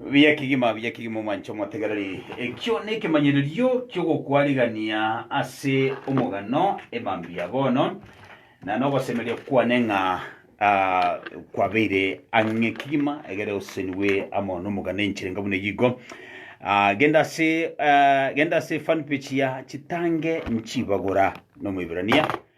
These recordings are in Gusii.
Buya kegima, buya kegima omwanche omotegereri. Ekio nekemanyererio kiogokwarigania ase omogano emambia bono, na nogosemeria kwane ng'a ah, kwabeire ang'e kegima egere osenigwe amo nomogano enchera enga buna eyigo. Ah, genda ase ah, genda ase fan page ya chitange nchibagora nomoibrania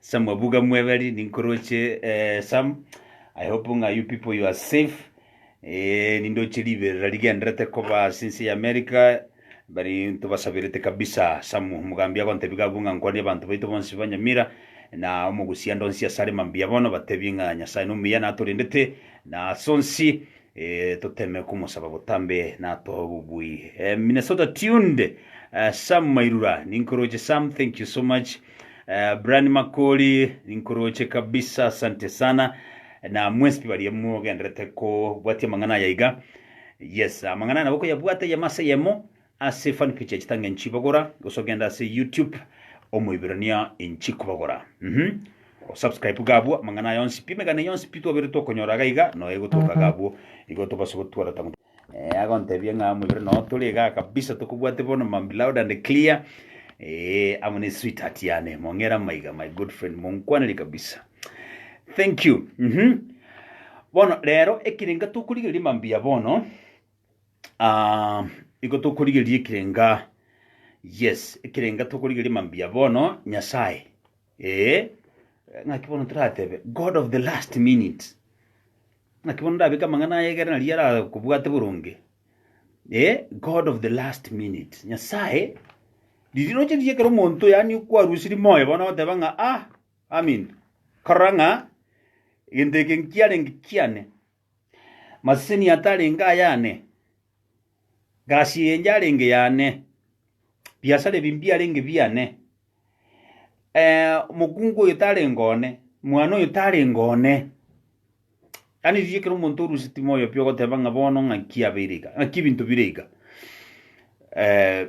Sam abuga mweberi ninkoroche eh, Sam I hope ng'a you people you are safe eh, nindoche riberera rigenderete koba ase ense ya America bari ntobasabirete kabisa Sam omogambi agontebi gabu ng'a nkwanie abanto baito bonsi banyamira na omogusia ndonsi asare mambia bono batebi ng'a Nyasaye nomuya natorendete na ase onsi eh, toteme komosaba botambe natoe obobui eh, Minnesota tuned eh, Sam Mairura ninkoroche Sam thank you so much Eh, Brian Makori inkoroche kabisa asante sana na mwespi baria mogenderete kobwatia amang'ana aya iga yes amang'ana aya nabo koyabwata yemo ase yemo ase fan page ya chitange nchibagora gose ogenda ase youtube omoiberania inchi kobagora mhm osubscribe gabwo amang'ana aya onsi pi emegane yonsi pi twabere tokonyora iga iga noe gotoka gabwo igo tobase gotwara tango Eh, agontebia ng'a amo ibere nao tore iga kabisa tokobwate bono mambi loud and clear eh, amo ne sweetheart yane mong'era maiga my good friend monkwaneri kabisa thank you mhm bono rero ekirenga tokorigereria mambi ya bono ah, igo tokorigereria ekirenga yes ekirenga tokorigereria mambi ya bono nyasaye Ee, ng'aki bono toratebe God of the last minute? Ng'aki bono ndabeke amang'ana aya egere nario arakobwate boronge? Ee, God of the last minute. Nyasae, riria roche riria ekero omonto yaani okwarusiri moyo bono agoteba ng'a ah, aminto, korora ng'a egento eke nkiarenge kiane. Maseseni atarenge ayane, gasi enye yarenge yane, biasara ebi mbiarenge biane. Eh, omokungu oyo tarenge one, mwana oyo tarenge one. Yaani riria ekero omonto orwe sitima oyo pi ogoteba ng'a bono ng'aki abeire iga, ng'aki ebinto bire iga. Eh,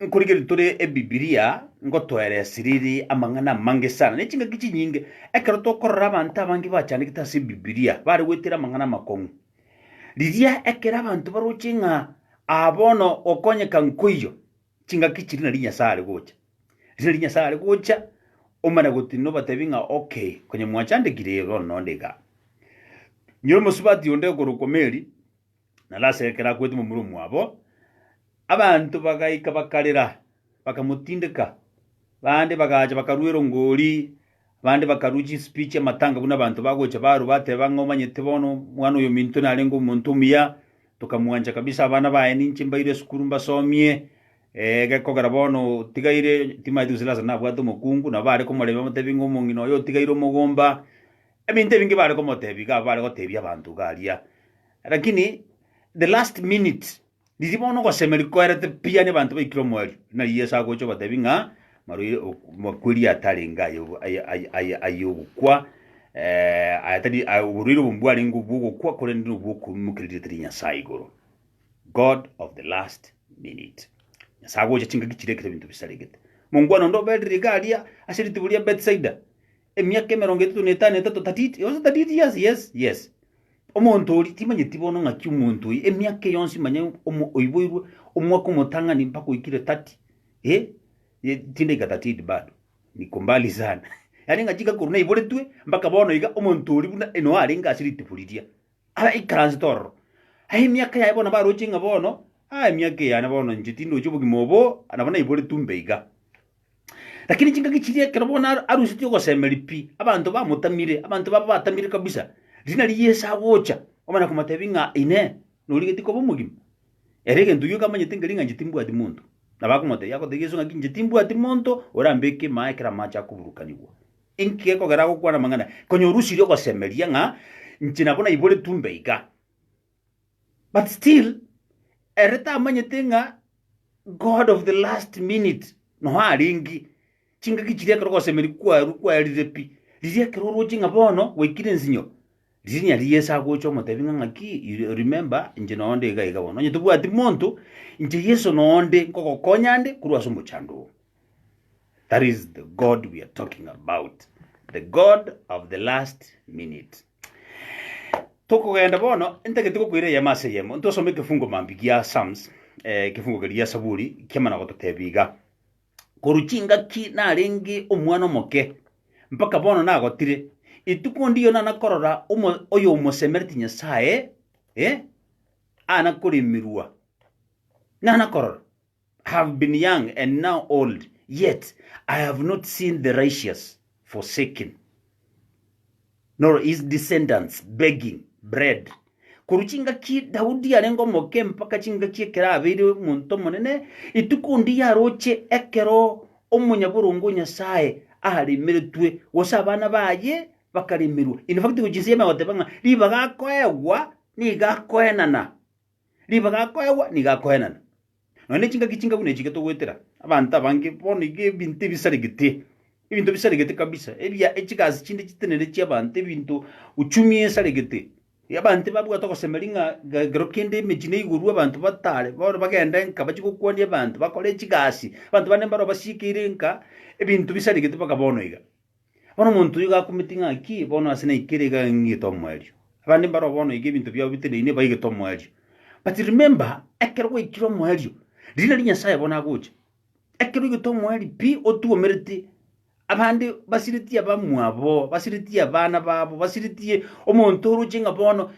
Nkorigia riria tore Ebibilia, ngotoeresia riri amang'ana amange sana, ne chingaki chinyinge, ekero tokorora abanto abange bachandegete ase Ebibilia, bare goetera amang'ana amakong'u. Riria ekero abanto baroche ng'a aa bono gokonyeka nkoiyo, chingaki chiria nari Nyasae are gocha. Riria nari Nyasae are gocha, omanye gotenena obatebi ng'a okay, konya mwachandegire, ee bono nonde igaa. Nyore omosubati onde okorokwa Mary. Na Lasaro ekero akwete momura omwabo, abanto bagaika bakarera, bakamotindeka. Bande bagacha bakarua erongori, abande bakarua chinsipi chi'amatanga buna abanto bagocha barwa bateba ng'a omanyete bono omwana oyominto narenge omonto omuya, tokamwancha kabisa, abana baye ninche mbaire esukuru mbasomie, eh, gekogera bono otigaire, timanyeti gose Lasaro nabwate omokungu, nabo bare komoremia bamotebie ng'a omong'ina oye otigaire omogomba. Ebinto ebinge bare komotebia iga bare gotebia abanto iga aria, rakini the last minute riria bono ogosemeria koerete pi yaani abanto baikire omoerio, nari Yeso agocha obatebia ng'a maroi ok- makweri atarenge aye obo- aye- aye- aye- aye ogokwa aya tari aya oborwaire obo mbwarenge obwogokwa korende nobwo okoimokereri tari Nyasae igoro, God of the last minute. Nyasae agocha chingaki chire ekero ebinto bisaregete. Mongwana onde oberire iga aria ase rituko ria Bethsaida, Emiaka emerongo etato na etano etato tatiti yonsi tatiti yes yes yes omonto ori timanyeti bono ng'aki omonto oyi emiaka eye yonsi manya omo oiboirwe omwaka omotang'ani mpaka oikire tati eh ye chindaika tatiti bado niko mbali sana yaani ng'a chingaki korwa naiboretwe mpaka bono iga omonto oria buna eno arenge ase ritibu riria araikaransete ororo aye emiaka yaye bono nabaroche ng'a bono ah emiaka eye yane bono inche tindoche obogima obo nabo naiboretwe mbe iga. Lakini chingaki chiria ekero bono ar- arusetie ogosemeria pi, abanto bamotamire, abanto baba batamire kabisa, riina ria Yeso agocha, omana komotebia ng'a Inee! Norigeti koba omogima? Ere egento gioka amanyete nkeria ng'a inche timbwati monto. Nabo akomotebia agotebia Yeso ng'aki inche timbwati monto orambeke ime aa ekero amache akoburukanigwa. Inki gekogera agokwana amang'ana? Konya orusirie ogosemeria ng'a inche nabo naiboretwe mbe iga. But still, ere tamanyete ng'a God of the last minute noa arenge. Chingaki chiria ekero ogosemeri kwarwa kwarire pi, riria ekero oroche ng'a bono gwaikire ensinyo, riria nyari Yeso agocha omotebi ng'a ng'aki, you remember, inche noa onde iga iga bono. Onye tobwati monto, inche Yeso noa onde nkogokonya nde korwa ase omochandoo. That is the God we are talking about. The God of the last minute. Tokogenda bono, ntagete gokoira eyemo ase eyemo. Ntosome ekefungo mambi gia Psalms, eh, ekefungo keri gia Saburi, kiamana gototebia iga. Korwa chingaki narenge omwana omoke, mpaka bono nagotire. Etuko ndiyo nana korora omo- oyo omosemereti Nyasae, eh, ana koremirwa. Nana korora. have been young and now old, yet I have not seen the righteous forsaken, nor his descendants begging bread. Korwa chingaki Daudi arenge omoke mpaka chingaki ekero abeire omonto omonene, rituko onde yaroche ekero omonyaboronge o Nyasae aremeretwe, gose abana baye bakaremerwa. In fact, gochia inse y'Emegogo goteba ng'a ribaga akoegwa nigo akoenana. Ribaga akoegwa nigo akoenana. Nonya ne chingaki chingabu nechi getogoetera abanto abange bono iga ebinto ebisaregete, ebinto bisaregete kabisa, ebia echigasi chinde chitenene chi'abanto, ebinto uchumi esaregete. Abanto babwate ogosemeria ng'a ga ekero kende emechi neigorwe abanto batare, bono bagende nka bachie gokwania abanto, bakore chigasi, abanto bande mbaro basiekire nka ebinto bisaregete mpaka bono iga. Bono omonto oyio gakumete ng'a ki, bono ase naikere iga ng'igete omoerio. Abande mbaro bono iga ebinto biabo biteneine baigete omoerio. But remember, ekero gwaikire omoerio, riria nari Nyasaye bono agocha. Ekero oigete omoerio pi, otuomerete, abande basiretie abamwabo, basiretie abana babo, basiretie omonto oroche ng'a bono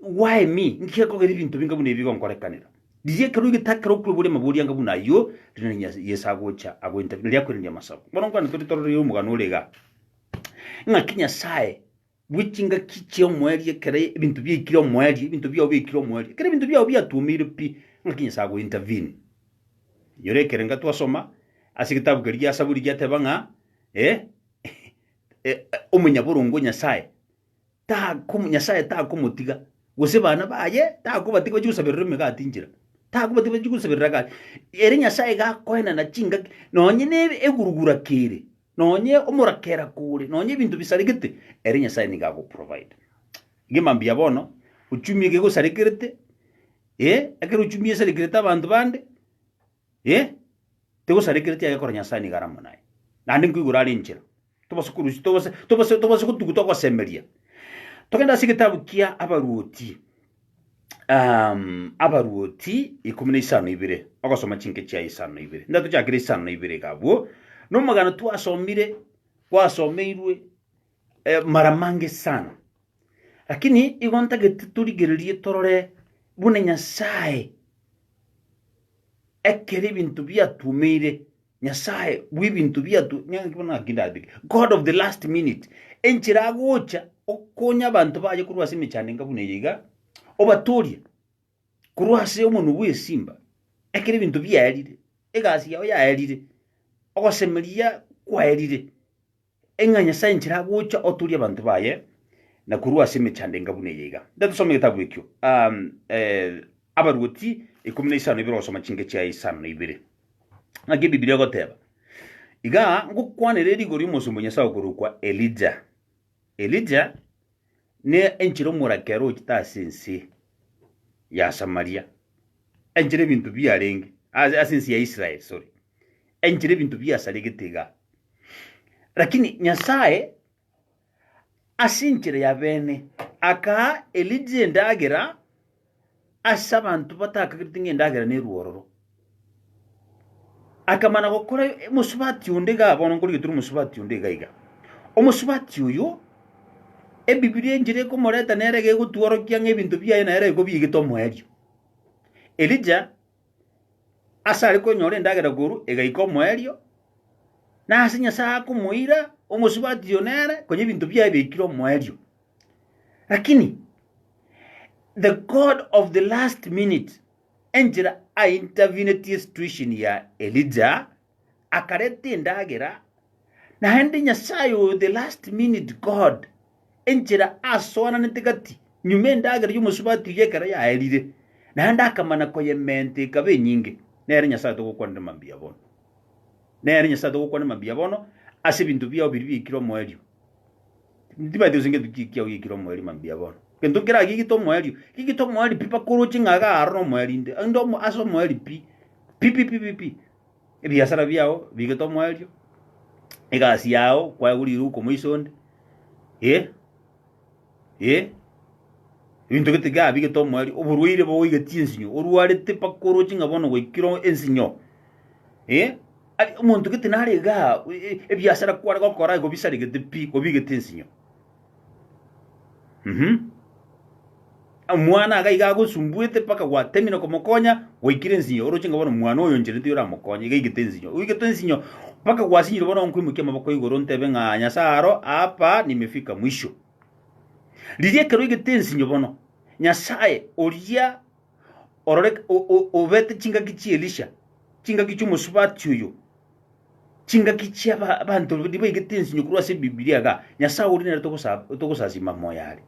Gwaemi, nki gekogera ebinto binga buna ebi bigonkorekanera? Riria ekerua egetao ekerokire boria amabori anga buna ayio, rinani Nyasae Yeso agocha, agointerera, nario akoiraneria amasabo. Bono nkwane tore tororerie omogano ore igaa, ng'aki Nyasae bwe chingaki chia omoerio ekero ebinto biaikire omoerio, ebinto biao biaikire omoerio, ekero ebinto biao biatuomeire pi, ng'aki Nyasae agointervene. Inyora ekerenga twasoma ase egetabu keria gia Saburi giateba ng'a, eh, eh, omonyaboronge o Nyasae, takomo Nyasaye takomotiga, gose bana baye takobatiga bachie gosaberera emegati inchera, takobatiga bachie gosaberera gati. Ere Nyasaye iga akoenana chingaki, nonye na ebe- egurugura kere, nonye omorakera kore, nonye ebinto bisaregete, ere Nyasaye nigo agoprovider. Iga mambia bono, ochumi eke gosarekerete, eh, ekero ochumi esarekerete abanto bande, eh, tegosarekereti egekora Nyasaye nigo aramo naye, naende nkoigwera are enchera. tobase korusia, tobase, tobase, tobase gotuguta ogosemeria. Togende ase egetabu kia Abaruoti, um, Abaruoti ikomi na isano ibere, ogosoma chinke chiaye isano ibere. Nda tochakire isano ibere iga abwo, nomogano twasomire, gwasomeirwe eh, mara mange sana lakini igo ntagete torigererie torore buna nyasae ekero ebinto biatumeire Nyasae bw'ebinto biato, naki bono naki ndabeke, God of the last minute, enchera agocha okonya abanto baye korwa ase emechando enga buna eye iga, obatoorie korwa ase omonwa bw'esimba, ekero ebinto biaerire, egasi yao yaerire, ogosemeria kwaerire. Ng'a Nyasae inchera agocha otoorie abanto baye, na korwa ase emechando enga buna eye iga. Nde tosome egetabu ekio, Abaruoti ikomi na isano ibere ogosoma chingecho ya isano na ibere. Naki Ebibilia egoteba, Iga ngokwanera erigori omosomba o Nyasae okorokwa Elija. Elija ne enchera omorake ere ochete ase ense ya Samaria, enchera ebinto biarenge ase ase ense ya Israel, sorry, enchera ebinto biasaregete iga. Lakini Nyasae ase enchera ya bene akaa Elija endagera ase abanto batakagereti ng'a endagera nerwororo. Akamana gokora emosubati onde iga ah, bono nkorigetera omosubati onde iga iga. Omosubati oyo, Ebibilia enchera ekomoreta nere gegotworokia ng'a ebinto biaye nere iko biigete omoerio. Elija, ase are konyora endagera korwa, egaika omoerio, nase Nyasae akomoira, omosubati oyo nere, konya ebinto biaye biaikire omoerio. Lakini the God of the last minute enchera aintervenetie situation ya Elija, akareta endagera, naende Nyasaye oyo the last minute God enchera asoananete gati nyuma endagera y'omosubati oyio ekero yaerire, naende akamana koyementa ekaba enyinge. Nere Nyasaye togokwanera mambia bono. Nere Nyasaye togokwanera mambia bono ase ebinto biao biria biaikire omoerio. Tibaeti gose ngento ki- kiao giekire omoerio mambia bono. Gento kera gigite omoerio, gigite omoerio pi bakore oche ng'a iga aro nomoerio inde, inde omo ase omoerio pi, pi pi pi pi pi. Ebiasara biao bigete omoerio, egasi yao kwaye gori riko moiso onde, eh, eh, ebinto gete igaa bigete omoerio, oborwaire boigetie ensinyo, orwarete bakoroche ng'a bono gwaikire o- ensinyo, eh. Aria omonto gete nare iga, ebiasara kware gokora igo bisaregete pi, obigete ensinyo. Mhm. Omwana iga iga agosumbuete mpaka gwatemire komokonya, gwaikire ensinyo, oroche ng'a bono omwana oyo oncherete oramokonye, iga igete ensinyo. Oigetwe ensinyo mpaka gwasinyire bono nkoimokia amaboko igoro ntebe ng'a Nyasae aro, Hapa nimefika mwisho. Riria ekero oigete ensinyo bono, Nyasae oria orore obete chingaki chi'Elisha, chingaki chi'omosubati oyo, chingaki chi'abanto baigete ensinyo korwa ase Ebibilia iga, Nyasae oria nere togosasima moyo are.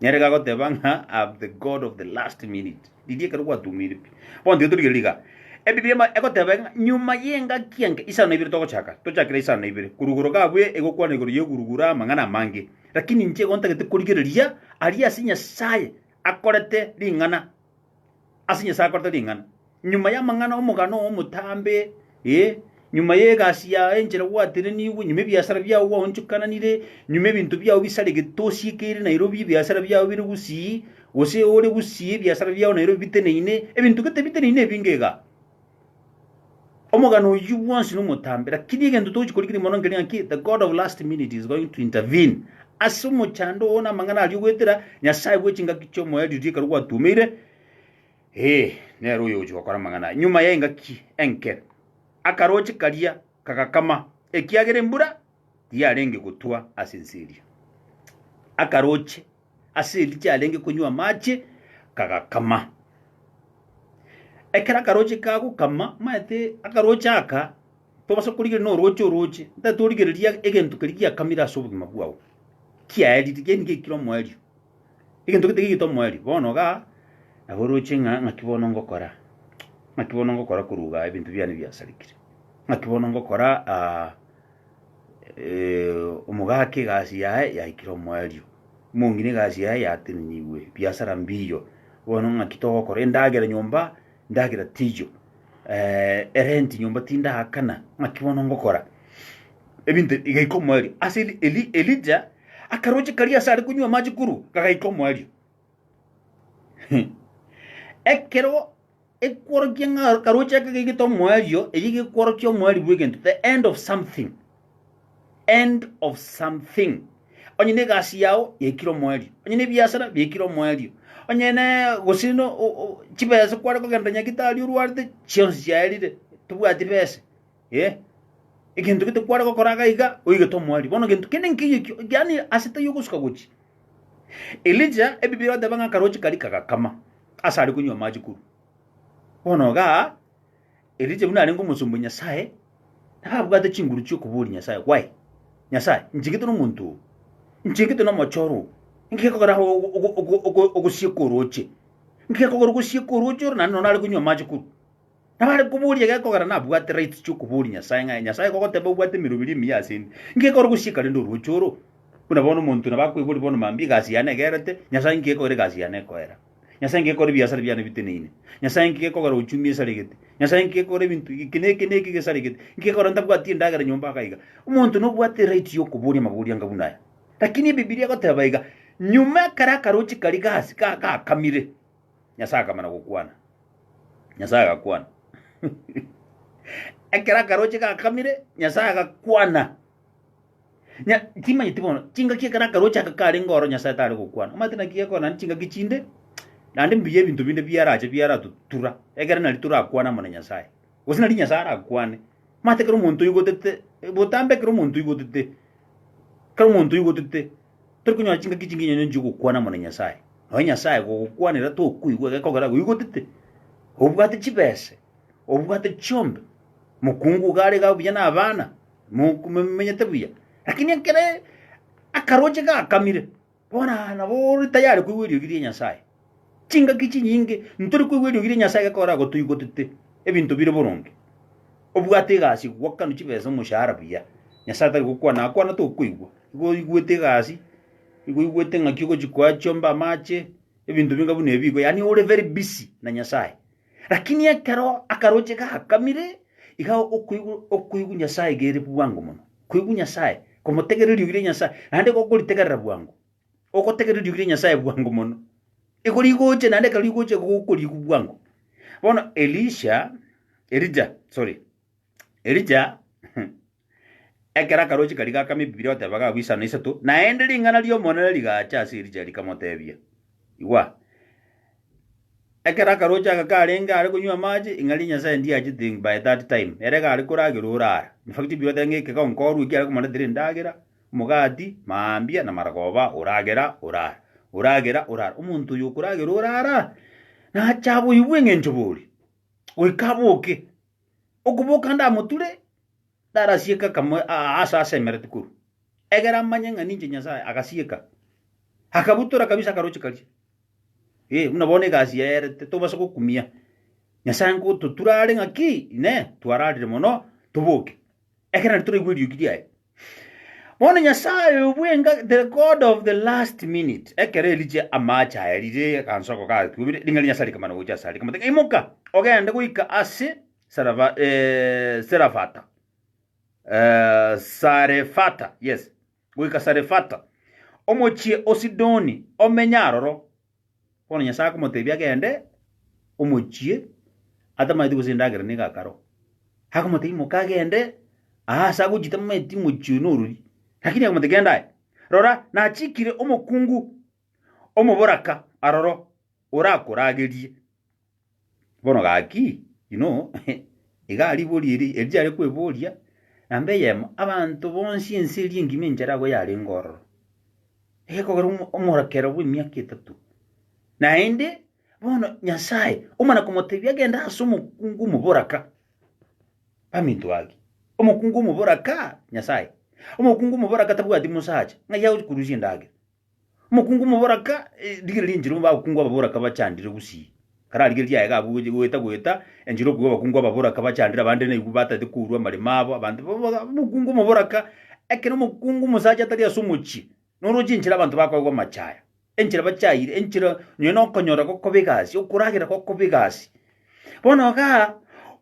Nere gagoteba ng'a am the God of the last minute. Riria ekero gwatumire pi. Bono tiga torigereria iga. Ebibilia egoteba ng'a nyuma y'engaki enke, isano ibere togochaka, tochakire isano ibere. Korwa igoro gabo egokwana igoro y'eguruguru amang'ana amange. Lakini inche igo ntagete korigereria aria ase Nyasae akorete ring'ana, ase Nyasae akorete ring'ana, nyuma y'amang'ana omogano oo omotambe, eh, nyuma y'egasi yago enchera gwatenenigwe, nyuma ebiasara biago gwaonchokananire, nyuma ebinto biago bisaregete osiekeire Nairobi, ebiasara biago bire gusii, gose ore gusii ebiasara biago Nairobi biteneine, ebinto gete biteneine ebinge igaa. Omogano oyio bwonsi nomotambe, lakini egento togochia korikiri mono nkeria ng'a ki? The God of last minute is going to intervene. Ase omochando oo namang'ana aria ogoetera, Nyasae bwe chingaki chi'omoyo riria ekero gwatumeire, ee, nere oyo ogochia gokora amang'ana aya. Nyuma y'engaki enke, akaroche karia kagakama, ekiagera embura tiyarenge gotwa ase ense eria. Akaroche Ase erikia arenge konywa amache, kagakama. Ekero akaroche kagokama, maete akaroche aka tobasa korigereria noroche oroche, ntagete origereria egento keria giakamire ase obogima bwao, kiaerire geni gekire omoerio, egento gete kegete omoerio. Bono iga nabo oroche ng'a ng'aki bono ngokora, ng'aki bono ngokora korwa igaa ebinto biane biasarigire, ng'aki bono ngokora. Omogaki egasi yaye yaikire omoerio, omong'ina egasi yaye yatenenigwe, ebiasara mbiiyo. Bono ng'aki togokora? Endagera nyomba, endagera tiiyo, erenti nyomba tindaakana, ng'aki bono ngokora? Ebinto ebi bigaika omoerio. Ase Eli- Eli- Elija akaroche karia ase are konywa amache korwa, kagaika omoerio. Ekero. Ekworokia ng'a karoche aka gaigete omoerio, eyio gekworokia omoerio bw'egento, the end of something. End of something. Onye na egasi yao yaikire omoerio, onye na ebiasara biaikire omoerio, onye na gose no o- o- chibesa kware kogenda nyagitari orwarete chionsi chiaerire, tobwati besa. Ee, egento gete kware gokora iga iga oigete omoerio. Bono gento kende nkeiyo ekio, yaani ase taiyo ogosuka gochia. Elija, Ebibilia erateba ng'a akaroche karia kagakama, ase are konywa amache korwa. Bono igaa, Elija buna arenge omosomba o Nyasae, nabo abwate chinguru chi'okoboria Nyasae, Why? Nyasae, nchegete nomonto oo, nchegete nomochoro oo, nki gekogera aho ogo- ogo- ogo- ogo- ogosieka oroche? Nki gekogera ogosieka oroche oro naende nonye nare konywa amache korwa? Nabare koboria egekogera nabwate rights chiokoboria Nyasae ng'a Nyasae kogoteeba obwate emeroberi emiya ase inde, inki ekore gosieka rende orwocho oro? Buna bono omonto nabo akoiboria bono mambia egasi yane egerete, Nyasae inki gekogera egasi yane ekoera? Nyasae inki gekogera ebiasara biane biteneine? Nyasae inki gekogera ochumi esaregete? Nyasae inki gekogera ebinto eke na eke na eke gesaregete? Inki gekogera ntabwati endagera nyomba aka iga? Omonto nobwate erights y'okoboria amaboria anga buna aya. Lakini Ebibilia egoteba iga, Nyuma ekero akaroche karia gasi ga- gakamire, Nyasae akamana gokwana. Nyasae agakwana. Ekero akaroche gakamire, Nyasae agakwana. Nya, timanyeti bono, chingaki ekero akaroche aka karenge oro Nyasae tare gokwana. Omanyete naki gekora naende chingaki chinde, naende mbuya ebinto binde biarache biaratutura, ekero nari torakwane amo na Nyasae. Gose nari Nyasae arakwane. Omanyete ekero omonto oigotete, botambe ekero omonto oigotete, ekero omonto oigotete, Tori konyora chingaki chinginya onye nchio gokwana muna Nyasae. Nonya Nyasae gogokwanera tokoigwa egekogera agoigotete. Obwate chibese, obwate chiombe, mokungu iga are iga buya na abana, mo- momenyete buya. Lakini ekere akaroche gakamire, bono nabo ore tayari koigwa eriogi ria Nyasae. Chingaki chinyinge ntori koigwa eriogi ria Nyasae gekogera agotoigotete ebinto bire boronge. Obwate egasi gokwana chibesa omoshahara buya. Nyasae tari gokwana akwana to okoigwa. Igo oigwete egasi, igo oigwete ng'aki ogochi koa chiombe amache, ebinto binga buna ebi igo yaani ore very busy na Nyasae. Lakini ekero akaroche gakamire iga okoigwa okoigwa Nyasae iga ere bwango mono. Koigwa Nyasae, komotegerera eriogi ria Nyasae naende igo okoritegerera bwango. Ogotegerera iriokire Nyasae bwango mono. Iko rigoche naende ekero rigoche gokoriku bwango. Bono Elisha, Elija, sorry. Elija ekero akaroche kari gakama Ebibilia goteba gagwa isano isato, naende ring'ana ri'Omonene rigacha ase Elija rikamotebia, Igwa, ekero akaroche aka karenge are konywa amache, ing'ana ria Nyasae ndiachete by that time, ere iga are koragerwa orara. In fact Ebibilia goteba ng'a ekegonko orue ekiare komoretera endagera, Omogati, maambia, na maragoba, oragera, orara, oragera, orara. Omonto oyo okoragera orara, nache aboigwe engencho boria, goika aboke. Okoboka ndamoture, ndarasieke akamo aa ase asemerete korwa, egera amanye ng'a ninche Nyasaye, agasieka, akabutora kabisa akaroche karia. Ee, buna bono egasi yaye ere totobasa gokumia. Nyasaye nkototura are ng'a ki? Inee! Twararire mono, toboke. Ekero nario toraigwe eriogi riaye. Bono Nyasae oyo bwenga, the God of the last minute, ekero eriche amaache aya rire agansoko gatuomire, ring'ana ria Nyasae rikamana gocha asare, rikamotebia, Imoka, ogende goika ase Sarava, eh, Serafata, eh, Sarefata, yes, goika Sarefata, omochie o Sidoni, omenye aroro. Bono Nyasae akomotebia agende omochie, atamanyeti gose endagera nigo akaro. Akomotebia, Imoka agende aa ase agochia tamanyeti omochie oyo norori. Lakini akamotebia, Genda aye. Rora, nachikire omokungu omoboraka aroro, orakoragerie. Bono gaki, inwe oo, iga ribori eri eri riare kweboria, na mbe eyemo, abanto bonsi ense eria engima enchera agwo yarenge ororo, egekogera omo- omorekero bw'emiaka etato. Naende, bono Nyasae omana komotebia agende ase omokungu omoboraka, baminto ake, omokungu omoboraka, Nyasae, omokungu omoboraka tabwati mosacha, ng'ai agochi korusia endagera. Omokungu omoboraka, rigereria enchera abakungu ababoraka bachandire gusii. Kare arigereria aye gabwo gocha goeta goeta enchera okwiga abakungu ababoraka bachandire abande naigwe bataete kourwa amaremo abo abanto omokungu omoboraka ekero omokungu omosacha atari ase omochie noroche enchera abanto bakoegwa amachaya enchera bachaire enchera nonya na okonyora gokoba egasi okoragera gokoba egasi. Bono igaa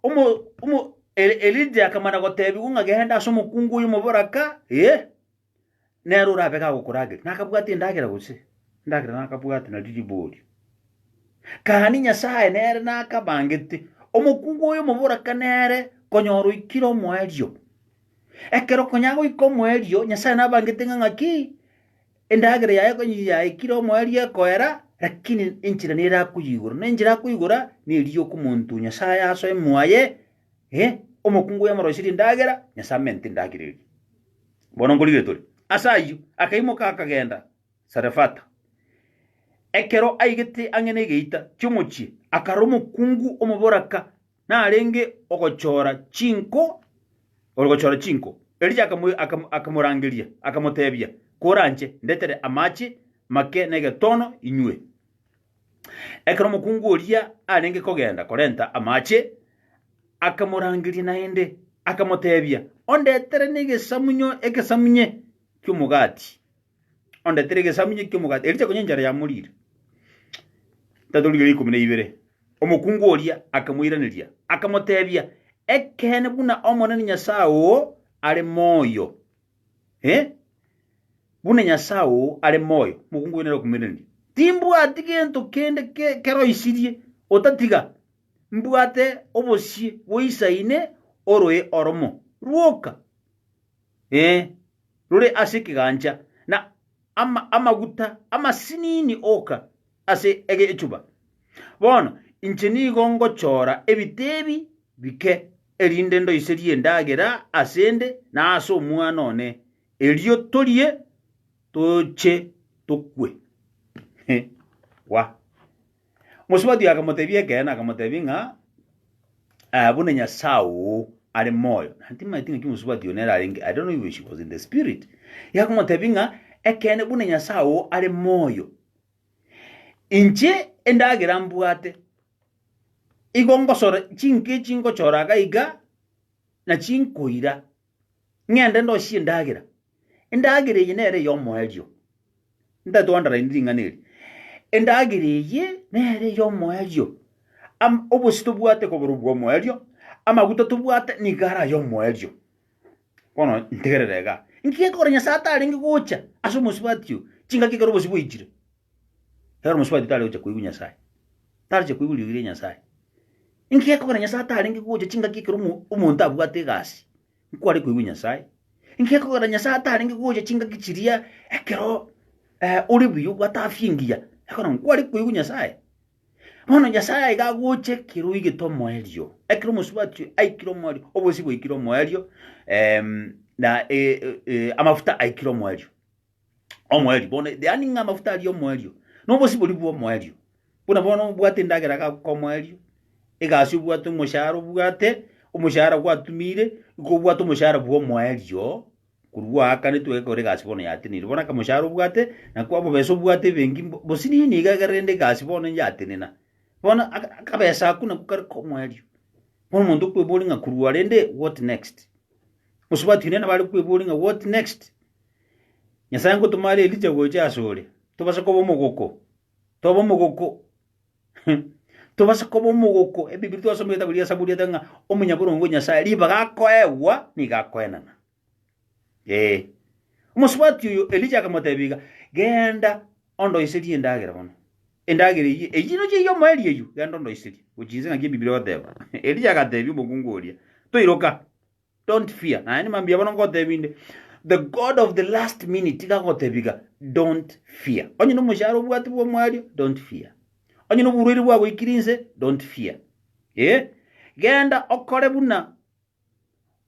omo omo Eli Elija akamana gotebiwa ng'a genda ase omokungu oyo omoboraka eeh. nere orabe gagokorageria, nakabwate endagera gose endagera nakabwate nario riborio. Gaki Nyasae nere nakabangete omokungu oyo omoboraka nere konyora oikire omoerio. Ekero konya agoika omoerio, Nyasae nabangete ng'a ng'aki, endagera yaye konya yaikire omoerio ekoera, lakini enchera nere akoyigora, na enchera akoyigora neri yokomonto Nyasae asoe moyo aye, Eh, omokungu oyo omoroiserie endagera, Nyasae amenete endagera eria. Bono nkorigire tore. Ase ayio akaimoka akagenda Sarefata. Ekero aigete ang'e negeita ki'omochie, akara omokungu omoboraka narenge ogochora chinko ore gochora chinko. Elija akamu, akamu, akamorangeria, akamotebia, Koranche, ndetere amache make negetono inywe. Ekero omokungu oria arenge kogenda korenta amache, akamorangeria naende, akamoteebia, Ondetere negesamunyo egesamunye ki'omogati. Ondetere egesamunye ki'omogati. Ericha konya enchara yamoriire. Tatorigereria ikomi na ibere. Omokungu oria akamoiraneria, akamoteebia, Ekeene buna Omonene Nyasae oo are moyo, Eh? Buna Nyasae oo are moyo, mokungu oyo nere okomoiraneria. Timbwati gento kende ke- keroisirie, otatiga mbwate obosie goisa ine oroe oromo rwoka, eh, rore ase ekegancha, na ama- amaguta amasinini oka, ase egechuba. Bono inche nigo ngochora ebitebi bike, erinde ndoiserie endagera ase 'nde na ase omwana one, erio torie toche tokwe. Wa. Mosubati akamotebia ekeene, akamotebia ng'a, eh, buna Nyasae oo are moyo, na timanyeti ng'aki mosubati one ararenge, I don't know if she was in the spirit, iga akamotebia ng'a, ekeene buna Nyasae oo are moyo, Inche endagera mbwate, igo ngosora chinka echi ngochora iga iga, na chinkoira, ng'ende ndosie endagera. Endagera eye nere eyomoerio, ntaete goandarainia ring'ana eri, endagera eye nere eyomoerio, am- obosie tobwate koborwa obwomoerio, amaguta tobwate nigo are ayomoerio. Bono ntegerere iga. Inki gekogera Nyasae atarenge gocha ase omosubati oo, chingaki ekero obosio bwaichire? Ekero omosubati tare gocha koigwa Nyasae, taroche koigwa eriogi ria Nyasae. Inki gekogera Nyasae atarenge gocha chingaki ekero omo- omonto abwate egasi, nkware koigwa Nyasae? Inki gekogera Nyasae atarenge gocha chingaki chiria ekero ore buya obwate afya engiya, ekero nkware koigwa Nyasae? Bono Nyasae aiga agocha ekero oigete omoerio, ekero omosubati aikire omoerio, obosio bwaikire omoerio, em, na e, e, e, amafuta aikire omoerio. Omoerio, bono yaani ng'a amafuta aria omoerio, nobosi bori bwa omoerio. Buna bono obwate endagera gakoka omoerio, egasi obwate omoshahara obwate, omoshahara gwatumire, igo obwate omoshahara bwa omoerio, Korwa goaka nitwege kore egasi bono yatenire, bono akamoshahara obwate, na kwabobesa obwate ebenki mbo- bosini nigo egere rende egasi bono yatenena. Bono aka- akabesa ako nako kare komoerio. Bono omonto okweboria ng'a korwa rende what next? Gose batwire nabare kweboria ng'a what next? Nyasae ngotoma are Elija gocha asore, tobase koba omogoko, tobe omogoko Tobasa koba omogoko ebibe twasoma egetabu gia Saburi ete ng'a omonyaboronge o Nyasae ribaga akoegwa nigo akoenana. Ee. Omosubati oyo Elija akamotebia iga, genda ondoiserie endagera bono. Endagera eyio eyio nochio eyio omoeri eyio, genda ondoiserie. Gochia inse ng'aki ebibe ogoteba. Elija agatebia omokungu oria, toiroka. don't fear naye ni mambia bono ngotebi inde the god of the last minute iga agotebiga don't fear onye na omoshahara obwate bwa omwario don't fear onye na oborwaire bwagoikire inse don't fear ee genda okore buna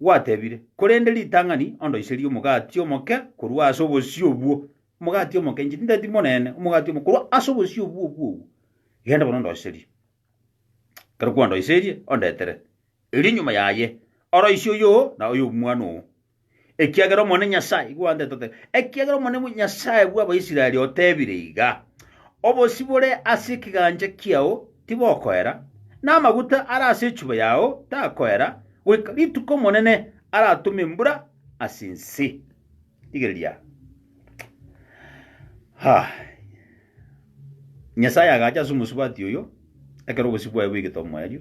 gwatebire korende ritang'ani ondoiserie omogati omoke korwa ase obosio obwo omogati omoke inche tinteti monene omogati omoke korwa ase obosio obwo obwo obwo genda bono ondoiserie Ekero kwandoiserie, ondetere, erio nyuma yaye oroise oyo na oy'omwana oo, ekiagera Omonene Nyasae igo andete otebe, ekiagera Omonene Nyasae bw'Abaisraeli otebire iga, Obosio bore ase ekegancha kiao tibokoera, na amaguta are ase echuba yao takoera, goika rituko Omonene aratome embura ase ense. Rigereria. Ha! Nyasae agacha ase omosubati oyo, ekero obosio bwaye bwegete omoerio,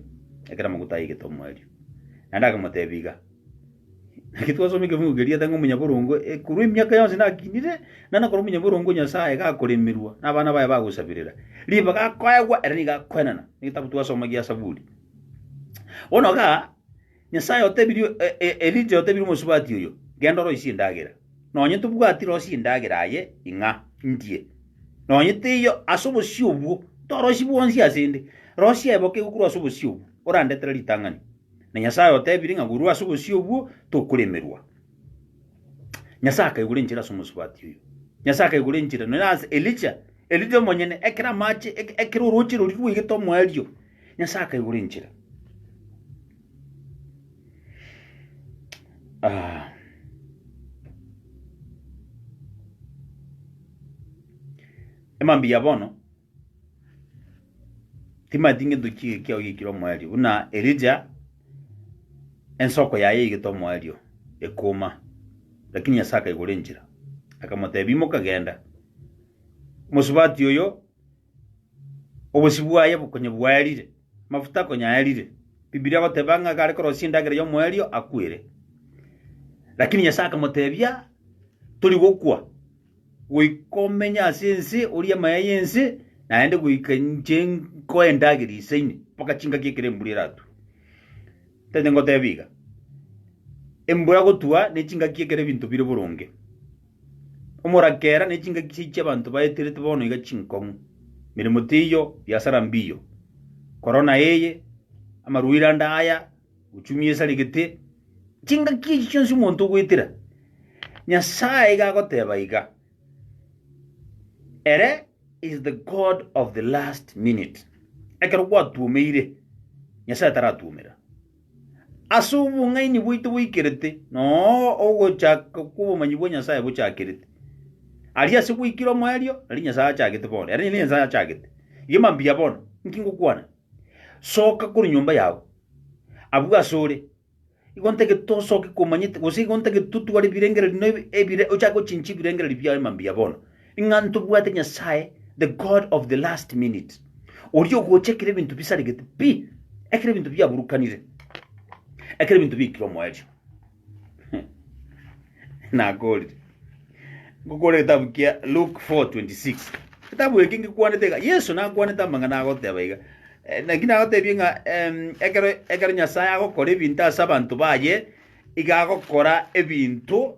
ekero amaguta aigete omoerio, naende akamotebia iga, Naki twasoma ekebugu keriete ng'a omonyaboronge ekorwa emiaka yonsi nakinire, naende ekero omonyaboronge o Nyasae gakoremerwa, na abana baye bagosabirera, ribaga akoegwa, ere nigo akoenena. Egetabu twasoma gia Zaburi. Bono igaa, Nyasae otebirie Elija otebirie omosubati oyo, Genda oroisie endagera, nonye tobwati rosia endagera aye ing'a ndie, nonye teiyo ase obosio obwo toroisi bwonsi ase 'nde, rosia eboke korwa ase obosio obwo, orandetere ritang'ani. Na Nyasae otebirie ng'a korwa ase obosio obwo tokoremerwa. Nyasae akaigora enchera ase omosubati oyo. Nyasae akaigora enchera nonya ase Elija Erio riomonyene ekero amache, eke- ekero orooche rori rwaigete omoerio, Nyasae akaigora enchera. Ah. Emambia ya bono timanyeti ngento ki kiao giekire omoerio buna Elija ensoko yaye yaigete omoerio ekoma, lakini Nyasae akaigora enchera akamotebia imoka genda Omosubati oyo obosio bwaye bokonye bwaerire, amafuta akonye aerire. Bibilia egoteba ng'a ekare korosia endagera y'omoerio akwere. Lakini Nyasae akamotebia, tori gokwa, goika omenye ase ense, orie amaya y'ense, naende goika inche nkoe endagera ise ime, mpaka chingaki ekero embura eratwe. Tari ngoteba iga, embura gotwa ne chingaki ekero ebinto bire boronge. Omorakera ne chingaki chiaito chi'abanto baeterete bono iga chinkong'u, emeremo teiyo, biasara mbiiyo. Korona eye, amarwaire ande aya, uchumi esaregete, chingaki echi chionsi omonto ogoetera, Nyasae iga agoteba iga, Ere is the God of the last minute. Ekero gwatuomeire, Nyasae taratwomera. as'obong'aini bwaito boikerete, noo ogochaka kw'obomanyi bwa Nyasaye bochakerete. Aria ase gwaikire omoerio, nari Nyasaye achagete bono, ere ninde Nyasaye achagete. Iga mambia bono, inki ngokwana? Soka korwa nyomba yao, abwo asore, igo ntagete tosoke komanyete, gose igo ntagete totware ebirengererio na ebi- ebire ochake gochinchia ebirengererio biao mambia bono. Ng'a ntobwate Nyasae, the God of the last minute, oria ogocha ekero ebinto bisaregete pi, ekero ebinto biaburukanire, ekero ebinto biikire omoerio. Nakorire ngokora egetabu kia Luke 4:26. Getabu eke ngekwanete iga, Yeso nakwanete amang'ana agoteba iga, eh, naki nagotebie ng'a em, ekero ekero Nyasae agokora ebinto ase abanto baye, iga agokora ebinto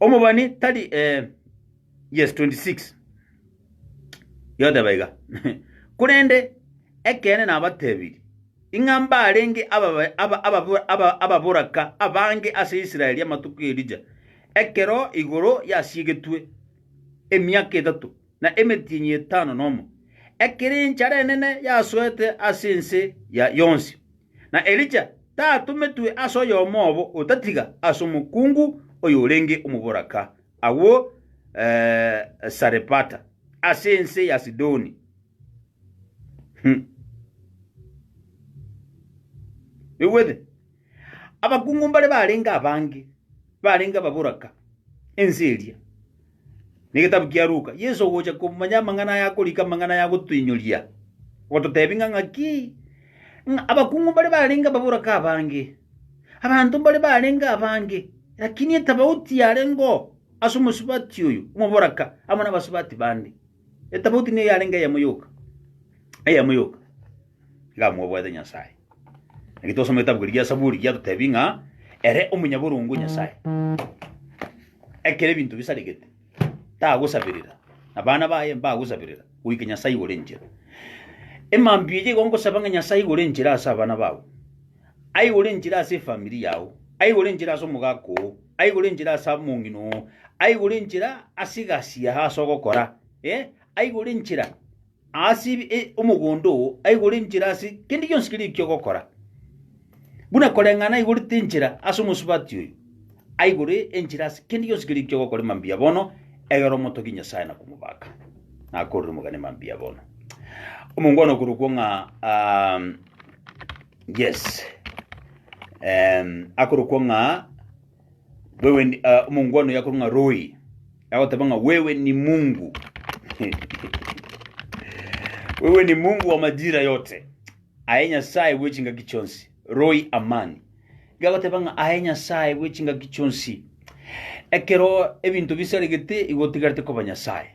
Omobani tari eh, yes 26 yoteba iga korende ekeene nabatebirie, ing'a mbarenge ababa- aba- ababo- aba- ababoraka abange ase Israeli amatuko y'Elija, ekero igoro yasiegetwe emiaka etato na emetienyi etano nomo, ekero enchara enene yasoete ase ense ya yonsi. Na Elija tatometwe ase oyomo obo otatiga ase omokungu oyorenge omoboraka agwo Sarepata, ase ense ya Sidoni. Oigwete? Abakungu mbare barenge abange, barenge ababoraka ense eria, Negetabu kia Luka. Yeso ogocha komanya amang'ana aya akorika amang'ana aya agotoinyoria, gototebi ng'a ng'aki ng'a abakung'u mbare barenge ababoraka abange, abanto mbare barenge abange, lakini etabauti yarengeo ase omosubati oyo omoboraka amo nabasubati bande. Etabauti niyo yarenge eyemo yoka, eyemo yoka iga mwabwate Nyasae. Naki twasoma egetabu keria gia Saburi giatotebi ng'a ere omonyaborongo Nyasae. Ekero ebinto bisaregete tagosaberera, na bana baye mbagosaberera, goika Nyasae igore enchera. Emambia eye igo ngosaba ng'a Nyasae igore enchera ase abana bao. Aigore enchera ase efamiri yao, aigore enchera ase omogaka oo, aigore enchera ase omong'ina oo, aigore enchera ase egasi yago ase ogokora, eh, aigore enchera ase ebi- e- omogondo oo, aigore enchera ase kende gionsi keria ekio ogokora. Buna koreng'ana aigorete enchera ase omosubati oyo, aigore enchera ase kende gionsi keria ekio ogokora mambia bono, egera omotogie Nyasae na komobaka. Nakorire omogani mambia bono. Omongwana okorokwo ng'a ah, Yes. Um, akorokwa ng'a wewe ni- ah, omongu ano yakorwa ng'a Roy. Agoteba ng'a wewe ni Mungu. wewe ni Mungu wa majira yote. Aye Nyasaye bwe chingaki chionsi. Roy Amani. Gagoteba ng'a aye Nyasaye bwe chingaki chionsi. Ekero ebinto bisaregete igotigarete koba Nyasaye.